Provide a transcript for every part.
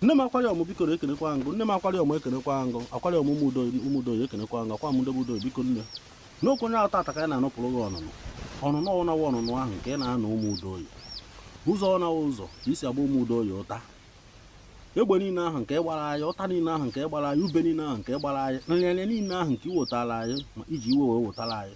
nne m akwari ọmụ biko ekenekwa m gụ nne m akwari ọmụ ekenekwa m gụ akwari ọmụ ụmụdo ya ekenekwa m gụ akwa mụdobe udo biko nne n'okwu onye tata ka anyị na-anụpụrụ gị ọnụnụ ọnụnụ ọwụnawa ọnụnụ ahụ nke ị na-anụ ụmụ udo oyi ụzọ ọnawa ụzọ ka i si agba ụmụ udo oyi ụta egbe niile ahụ nke gbara anyị ụta niile ahụ nke gbara anyị ube niile ahụ nke gbara anyị nrịanrịa niile ahụ nke i wetara anyị ma i ji iwe wee wetara anyị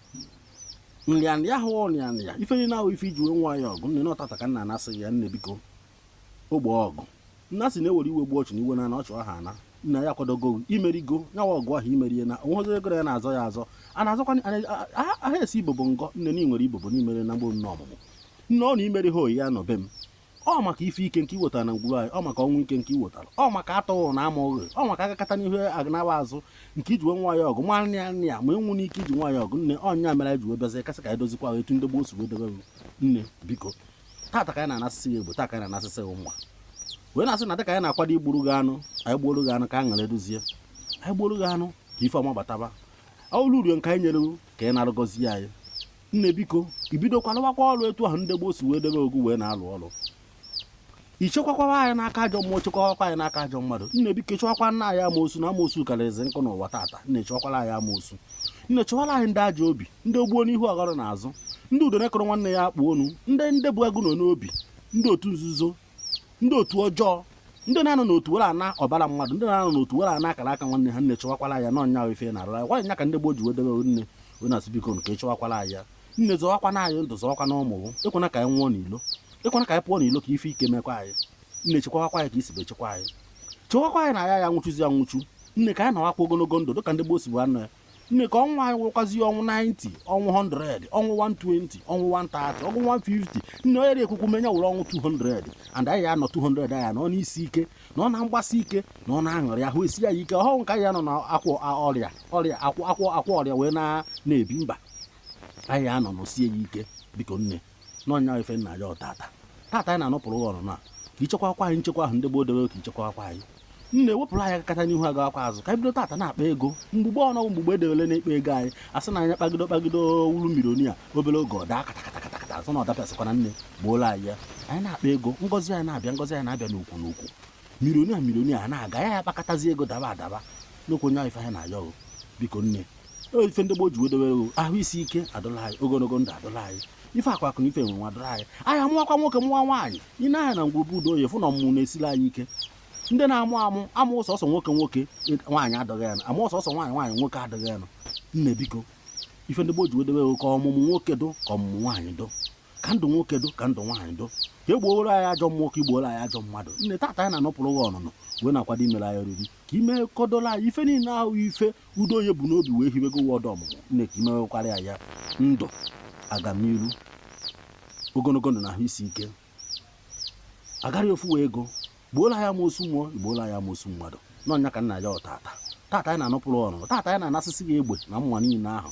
nrịanrịa ahụ ọrịanrịa ife niile ahụ ife i ji wee nwa anyị ọgụ nne na ọ tata ka nna anasị ya nne biko ogbe ọgụ na a sị na e were iwe gbuo ọchụ na iwe naa na ọchụ aha ana na anyị akwadogo i merigo nyawa ọgụ ahụ i merie na o nweghị ego ya na-azọ ya azọ a na-azọkwa aha esi ibobo ngọ nne na i nwere ibobo n'imere na mgbe nne ọmụmụ nne ọ na imeri ha oyi ya nọ be m ọ maka ife ike nke i wetara na ngwuru anyị ọ maka ọnwụ ike nke i wetara ọ maka atụghị na ama oghe ọ maka agakata n'ihu aganawa azụ nke i ji wee nwa anyị ọgụ ma nne ya nne ya ma enwu n'ike i ji nwa anyị ọgụ nne ọ nya mere anyị ji wee bịazie ka a sị ka anyị dozikwa ahụ etu ndị gboo si wee debe nne biko tata ka anyị na-anasịsị ya egbo taa ka anyị na-anasịsị ya nwa wee na-asị na dịka anyị na-akwado igburu gị anụ anyị gbuoro gị anụ ka anyị ṅara edozie anyị gbuoro gị anụ ka ife ọma bataba ọlụ urio nke anyị nyere ka ị na-arụgọzi anyị nne biko i bidokwa lụwakwa ọlụ etu ahụ ndị gboo si wee debe gụ wee na-alụ ọlụ i chekwakwawa anyị n'aka ajọ mmụọ chekwawakwa anyị n'aka ajọ mmadụ nne biko chụwakwana anyị amoosu na amoosu karịrịzi nkụ n'ụwa tata nne chụwakwala anyị amoosu nne chụwala anyị ndị ajọ obi ndị ogbuo n'ihu ọghọrọ n'azụ ndị udo nekụrụ nwanne ya akpụ onu ndị ndị bụ agụ nọ n'obi ndị otu nzuzo ndị otu ọjọọ ndị na-anọ n'otu were ana ọbara mmadụ ndị na-anọ n'otu were ana akara aka nwanne ha nne chụwakwara anyị ya na ọ nya ife na-arụ ya nwaanyị ya ka ndị gboo ji wee debe nne anyị asị biko nne chụwakwara anyị ya nne zọwakwa na anyị ndụ zọwakwa na ụmụ ekwena ka anyị nwụọ n'ilo ekwena ka anyị pụọ n'ilo ka ife ike mekwa anyị nne chekwawakwa anyị ka i sibu echekwa anyị chewakwa anyị na ya ya nwụchụzi ya nwụchu nne ka anyị nọwakwa ogologo ndụ dịka ndị gboo sibu anọ ya nne ka ọnwụ anyị wụrụkwazi ọnwụ 90 ọnwụ 100 ọnwụ 120 ọnwụ 130 ọnwụ 150 nne onye dị ekwukwu me nya wụrụ ọnwụ 200 and anyị anọ 200 anyị nọ n'isi ike na ọ na mgbasi ike na ọ na aṅụrị ahụ esie anyị ike ọhụụ nke anyị anọ na akwọ a- ọrịa ọrịa akwọ akwọ akwọ ọrịa wee na na-ebi mba anyị anọ nọsie ya ike biko nne na ọ nya ife anyị na-ayọ tata tata anyị na-anụpụrụ ụwa ọnụnụ a ka i chekwakwa anyị nchekwa ahụ ndị gboo dobe ka i chekwakwa anyị nne wepụrụ anyị agakata n'ihu agawakwa azụ ka anyị bido tata na-akpa ego mgbugbe ọnụ mgbugbe edewele na-akpa ego anyị asị na anyị a kpagido kpagido wụrụ milionia obere oge ọ daa katakatakatakata azụ na ọ dapịasịkwana nne gboola anyị ya anyị na-akpa ego ngọzi anyị na-abịa ngọzi anyị na-abịa n'ukwu n'ukwu milionia milionia a na-aga ya ya kpakatazi ego daba adaba n'okwu onye ahụ ife anyị na-ayọ o biko nne o ife ndị gboo ji wee dowere o ahụ isi ike adụla anyị ogologo ndụ adụla anyị ife akụ akụ na ife enwe enwe adụla anyị anyị amụwakwa nwoke mụwa nwaanyị i nee anya na ngwuru be udo oyi fụ na ọmụmụ na-esiri anyị ike ndị na-amụ amụ amụ sọsọ nwoke nwoke nwaanyị adụghị ya nụ amụ sọsọ nwaanyị nwaanyị nwoke adụghị ya nụ nne biko ife ndị gboo ji wee dowere o ka ọmụmụ nwoke dụ ka ọmụmụ nwaanyị dụ ka ndụ nwoke dụ ka ndụ nwaanyị dụ ka e gbuoro anyị ajọ mmụọ ka i gbuoro anyị ajọ mmadụ nne tata anyị na-anụpụrụ gị ọnụnụ wee na-akwado imere anyị oriri ka ime kọdola anyị ife niile ahụ ife Udoye bu n'obi wee hiwego ụwa ọdọ ọmụmụ nne ka i mewekwara ya ya ndụ agamniru ogologo ndụ na ahụ isi ike agarị ofu wee ego gbuola ya amosu mmụọ igbuola ya amosu mmadụ n'ọnya ka nna ya ọtata tata anyị na-anụpụrụ ọnụnụ tata anyị na-anasịsị gị egbe na mma niile ahụ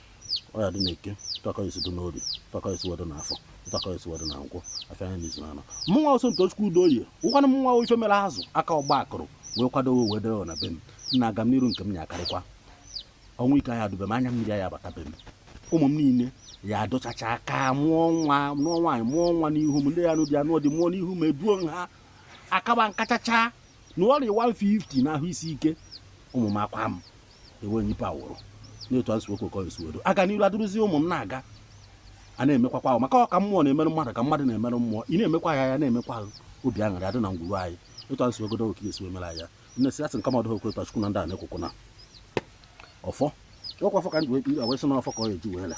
ọ ya dị na eke otu a ka o si dị n'oye otu a ka o si wee dị na afọ otu a ka o si wee dị na nkwọ afịa anọ n'izu n'anọ mụnwa Sọmtochukwu Udoye ụkwanụ mụnwa ife mere azụ aka ọgba akụrụ wee kwadowe wee dere na be m nna aga m n'iru nke m ya akarịkwa ọnwụ ike ya adụ be m anya mmiri ya abata be m ụmụ m niile ya adụchacha aka mụọ nwa mụọ nwaanyị mụọ nwa n'ihu m ndị ya anụ di anụọ di mụọ n'ihu m eduo m ha akaba nka chacha na arọ 150 n'ahụ isi ike ụmụ m akwa m enweghị ife a wụrụ n'otu a nsiwekwe ka ọ esiwedo aga n'iru adịrụzi ụmụ m na-aga a na-emekwakwa ahụ maka ọ ka mmụọ na-emerụ mmadụ ka mmadụ na-emerụ mmụọ ị na-emekwa ya ya na-emekwa ahụ obi aṅụrị adị na ngwuru anyị otu a nsiwegodo oke esiwe mere ya nne si asị nke mmadụ okwe otu achukwu na ndị a na-ekwukwu na ọfọ ọkwa ọfọ ka ndị wee wee sị na ọfọ ka ọ eji wee la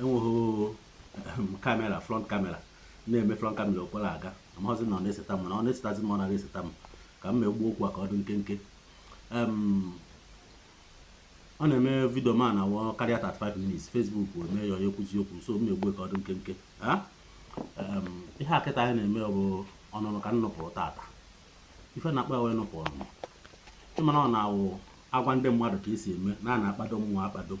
enweghị kamera ehm, front kamera na-eme front kamera okwere aga amaghịzi na ọ na-eseta m na ọ na-esetazi m ọ naghị eseta m ka m megbuo okwu a ka ọ dị nkenke ehm, ọ na-eme vidio mana ọ wụ karịa 35 minutes Facebook eme ya ọ ya ekwuzi okwu so m megbuo ka ọ dị nkenke ah, ehm, ihe a kịta anyị na-eme bụ ọnụnụ ka m nụpụrụ tata ife a na-akpọ wụ ịnụpụ ọnụnụ ị mara na ọ na-awụ a gwa ndị mmadụ ka esi eme na a na-akpado mmụọ akpado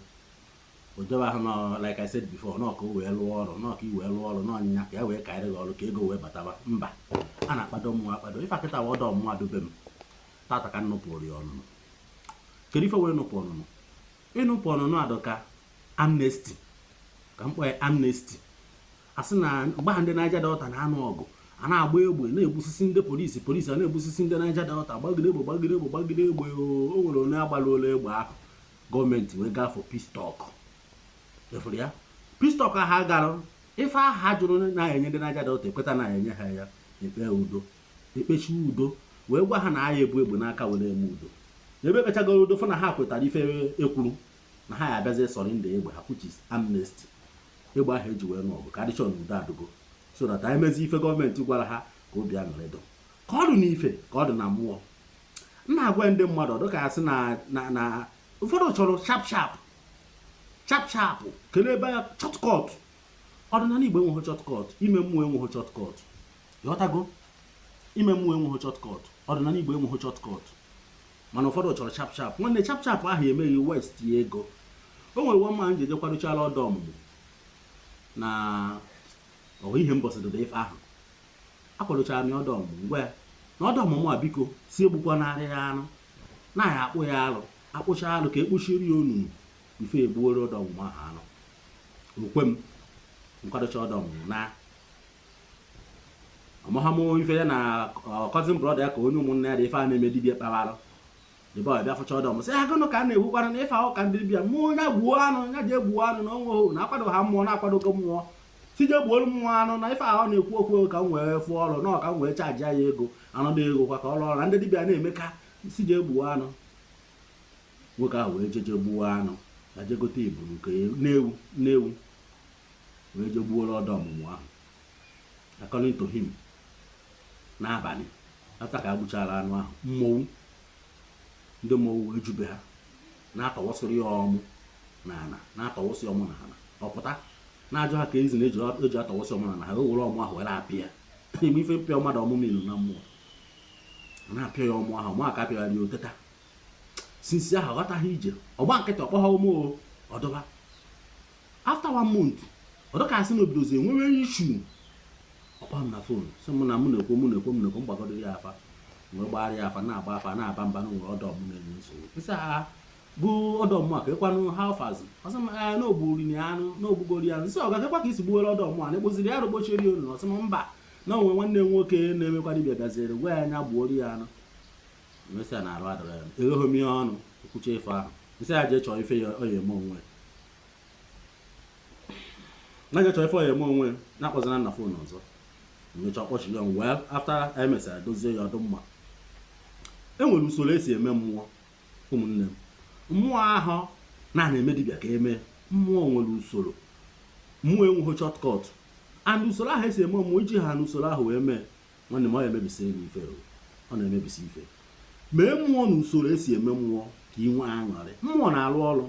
odobe ahụ nọ like I said before nọ ka o wee lụọ ọrụ nọ ka i wee lụọ ọrụ n'ọnyịnya ka e wee karịrị gị ọrụ ka ego wee bataba mba a na-akpado mmụọ akpado ife a kịta wụ ọdọ mmụọ a dụ be m tata ka m nụpụrụ ya ọnụnụ kedu ife wụ ịnụpụ ọnụnụ ịnụpụ ọnụnụ dụ ka amnesty ka m kpọọ ya amnesty asị na mgbe ahụ ndị Niger Delta na-anụ ọgụ a na-agba egbe na-egbusisi ndị polisi polisi a na-egbusisi ndị Niger Delta gbagide egbe gbagide egbe gbagide egbe o nwere onye agbaruola egbe ahụ gọọmenti wee gaa for peace talk ị fụrụ ya peace talk ha gara ife ahụ ha jụrụ inye ndị Niger Delta ekweta inye ha ya ekpe udo ekpesie udo wee gwa ha na a ya ebu egbe n'aka were eme udo ebe ekpechagoro udo fụ na ha kwetara ife e kwuru na ha ya abịazi surrender egbe ha which is amnesty egbe ahụ e ji wee nụọ ọgụ ka a dị sure na udo adụgo so that a ya emezi ife gọọmenti gwara ha ka obi aṅụrị dụ ka ọ dị n'ife ka ọ dị na mmụọ m na-agwa ndị mmadụ ọ dụ ka a sị na ụfọdụ chọrọ sharp sharp sharp sharp kelee ebe ya shortcut ọdịnala igbo enweghị shortcut ime mmụọ enweghị shortcut ị ghọtago ime mmụọ enweghị shortcut ọdịnala igbo enweghị shortcut mana ụfọdụ chọrọ sharp sharp nwanne sharp sharp ahụ eme gị waste ya ego o nwere nwa mma m ji ejekwaruchala ọdọ ọmụmụ na ọhụ ihe mbọsị dịda ife ahụ akwadochara m ya ọdọ ọmụmụ m gwa ya na ọdọ ọmụmụ a biko sị egbukwanara ya anụ na anyị akpụ ya alụ akpụcha alụ ka e kpuchiri ya ọnụnụ ife e gbuoro ọdọ ọmụmụ ahụ anụ o kwe m m kwadocha ọdọ ọmụmụ na ọmụhamụ ife ya na cousin brother ya ka onye ụmụnne ya dị ife a na-eme dibia kpara the boy bịa fụcha ọdọ m sị ha gụnụ ka a na-egbukwara na ịfa ụka ndị bịa mmụọ onye gbuo anụ ya jee gbuo anụ na o nwehụ na akwado ha mmụọ na a kwadogo mmụọ sị jee gbuolu mmụọ anụ na ife ahụ na-ekwu okwu ka m wee fụọ ọrụ na ọ ka m wee charge ya ego anụ dị ego kwa ka ọrụ ọrụ na ndị dibịa na-eme ka sị jee gbuo anụ nwoke ahụ wee jeje gbuo anụ na jee gote ebune na ewu na ewu wee je gbuoro ọdọ ọmụmụ ahụ according to him n'abalị after ka e gbuchara anụ ahụ mmọnwụ ndị mmọnwụ wee jube ha na-atọwasịrị ya ọmụ na ala na-atọwasị ọmụ na ala ọ pụta na-ajụ ha ka ezi na e ji atọwasị ọmụ na ala ha wee were ọmụ ahụ were apịa ime ife mpịa mmadụ ọmụ ilu na mmụọ na-apịa ya ọmụ ahụ ọmụ a ka a pịara ya o teta since ahụ ghọtaghị ije ọ gba nkịtị ọ kpọghọ m ọdụba after one month ọ dụ ka a sị na o bidozie nwewe issue ọ kpọọ m na phone sị m na mụ na-ekwo mụ na-ekwo m na-ekwo m gbagodu ya afa wee gbara ya afa na-agba afa na-aba mba na nwere ọdọ m na-enye nsogbu isi agha bụ ọdọ mụ a ka ịkwanụ ha ọfazi ọ sị m ee na o gburi ya anụ na o gbugori ya m sị ọ ga gakwa ka i si gbuwere ọdọ mụ a anụ a kpụziri ya arụ kpuchiri ya ọnụnụ ọ sị m mba na o nwe nwanne m nwoke na-emekwa dibịa gaziere gwa ya na ya gbuoro ya anụ emesịa na arụ adịrọ ya egheghị m ya ọnụ o kwucha ife ahụ m sị ya jee chọọ ife ya ọ ya eme onwe na jee chọọ ife ọ ya eme onwe ya akpọzina m na phone ọzọ mecha ọ kpọchie ya wee after emesịa dozie ya ọ dụ mma e nwere usoro e si eme mmụọ ụmụnne m mmụọ ahụ a na-eme dibịa ka eme mmụọ nwere usoro mmụọ enweghị shortcut and usoro ahụ e si eme mmụọ i jihanụ usoro ahụ wee mee nwanne m ọ emebisiri gị ife ọ na-emebisi ife mee mmụọ na usoro e si eme mmụọ ka ị nwee aṅụrị mmụọ na-alụ ọrụ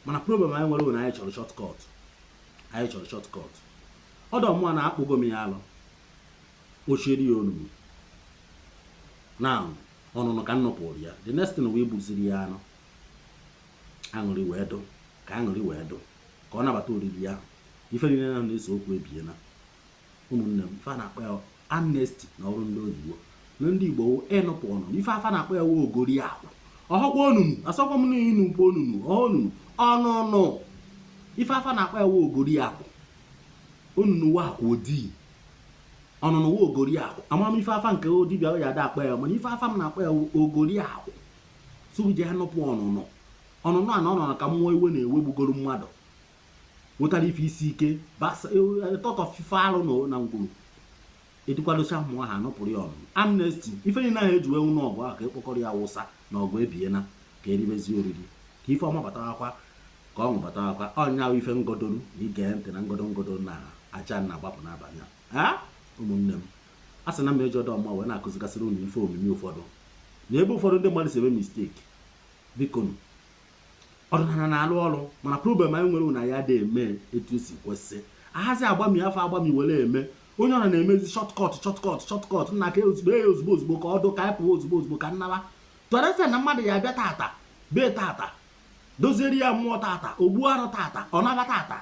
mana problem anyị nwere bụ na anyị chọrọ shortcut anyị chọrọ shortcut ọdọ mmụọ na akpụgo m ya alụ ochieri ya onugbu na ọnụnụ ka nnọpụrụ ya the next thing wee gbuziri ya anụ aṅụrị wee dụ ka aṅụrị wee dụ ka ọ nabata oriri ya ife niile na-ese okwu ebiela ụmụnne m ife a na-akpọ ya amnesty na olu ndị oyibo na ndị igbo wụ ịnụpụ ọnụ ife afa na-akpọ ya wụ ogori akwụ ọhọkwa onunu asọkwa m n'inu bụ onunu ọnụnụ ọnụnụ ife afa na-akpọ ya wụ ogori akwụ onunu wụ akwụ odii ọnụnụ wụ ogori akwụ amaghị m ife afa nke dibịa ya da-akpọ ya mana ife afa m na-akpọ ya wụ ogori akwụ sụrụ ji anụpụ ọnụnụ ọnụnụ a na ọnụnụ ka mmụọ iwe na-ewegbugoro mmadụ wetara ife isi ike tọtọ ife arụ na na ngwuru edukwadocha mmụọ ahụ anụpụrụ ya ọnụ amnesty ife niile ahụ eji wee nụọ ọgụ ahụ ka ekpokọrọ ya wụsa na ọgụ ebiena ka eribezi oriri ka ife ọma batawakwa ka ọṅụ batawakwa ọ ya wụ ife ngodoru na ige ntị na ngodo ngodo na aja na agbapụ n'abalị a ụmụnne m a sị na m eji ọdụ mma wee na-akụzigasịrị unu ife omimi ụfọdụ na ebe ụfọdụ ndị mmadụ si eme mistake biko ọdịnala na-alụ ọrụ mana problem anyị nwere wụ na anyị adị eme etu esi kwesị ahazi agbami afọ agbami were eme onye ọwụna na-emezi shortcut shortcut shortcut nna ka ozugbo ya ozugbo ozugbo ka ọdụ ka anyị pụọ ozugbo ozugbo ka m naba tọrese na mmadụ ya abịa tata bee tata doziere ya mmụọ tata ogbu arụ tata ọ naba tata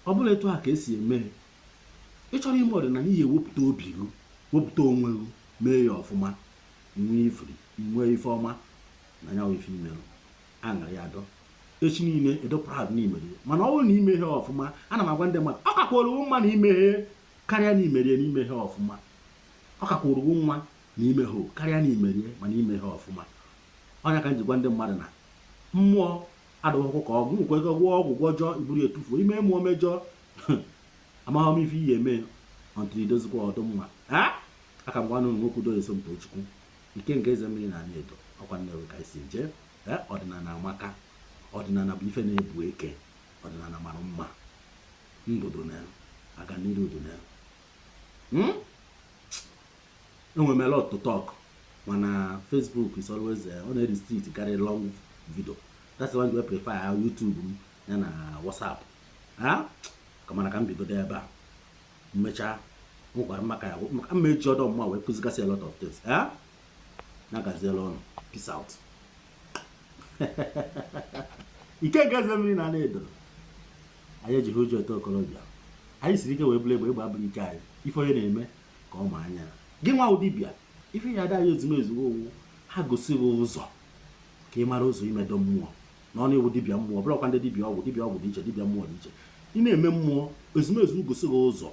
ọ bụla etu a ka esi eme ị chọrọ ime ọdịnala ihe wepụta obi gị wepụta onwe gị mee ya ọfụma nwee uru nwee ife ọma na ya ife i mere aṅara ya adụ echi niile ị dụ proud na i mere mana ọ bụrụ na i meghe ya ọfụma ana m agwa ndị mmadụ ọ kakwara gị mma na i meghe karịa na i mere ya na i meghe ya ọfụma ọ kakwara gị mma na i meghe karịa na i mere ya mana i meghe ya ọfụma ọ ya ka m ji gwa ndị mmadụ na mmụọ adụghọkwa ka ọgwụ nwekwa ego gwọọ ọgwụ gwọjọ i buru ya tufuo i mee mmụọ mejọọ amaghị m ife ị ya-eme until i dozikwa ọ dụ mma aka m gwanụ nwoke udo esomtochukwu Ike nke eze mmiri na Anị Edo, ọkwa Nnewi ka anyị si jee. Ee, ọdịnala amaka. Ọdịnala bụ ife na-ebu eke. Ọdịnala mara mma. Ndụ dị na ya. Aganiru dị na ya. Hmm? Enwere m a lot to talk mana Facebook is always eh, ọ na-restrict karị long video. That's why I prefer YouTube m ya na WhatsApp. Ha? Ka mana ka m bigodo ebe a. m mechaa nwekwara maka ya maka mma eji ọdụ mma wee kụzigasị a lot of things eh? nya gaziere unu peace out ike nke eze mmiri na ala edo anyị ejighị ụjọ eto okorobịa anyị siri ike wee bụrụ egbe egbe abụrụ ike anyị ife onye na-eme ka ọ ma anya gị nwa dibịa ife ya ada anyị ezumezu ọ wụ ha gosi gị ụzọ ka ị mara ụzọ imedo mmụọ na ọ na-ewu dibịa mmụọ bụrụkwa ndị dibịa ọgwụ dibịa ọgwụ dị iche dibịa mmụọ dị iche ị na-eme mmụọ ezumezu gosi gị ụzọ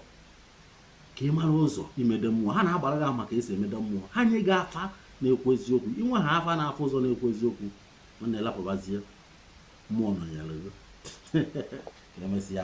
ka ị mara ụzọ imeda mmụọ ha na-agbara gị ama ka esi emeda mmụọ ha nye gị afa na-ekwu eziokwu inwe ha afa na-afụ ụzọ na-ekwu eziokwu ọ na-elapụbazie mmụọ nọ ya lụrụ emesịa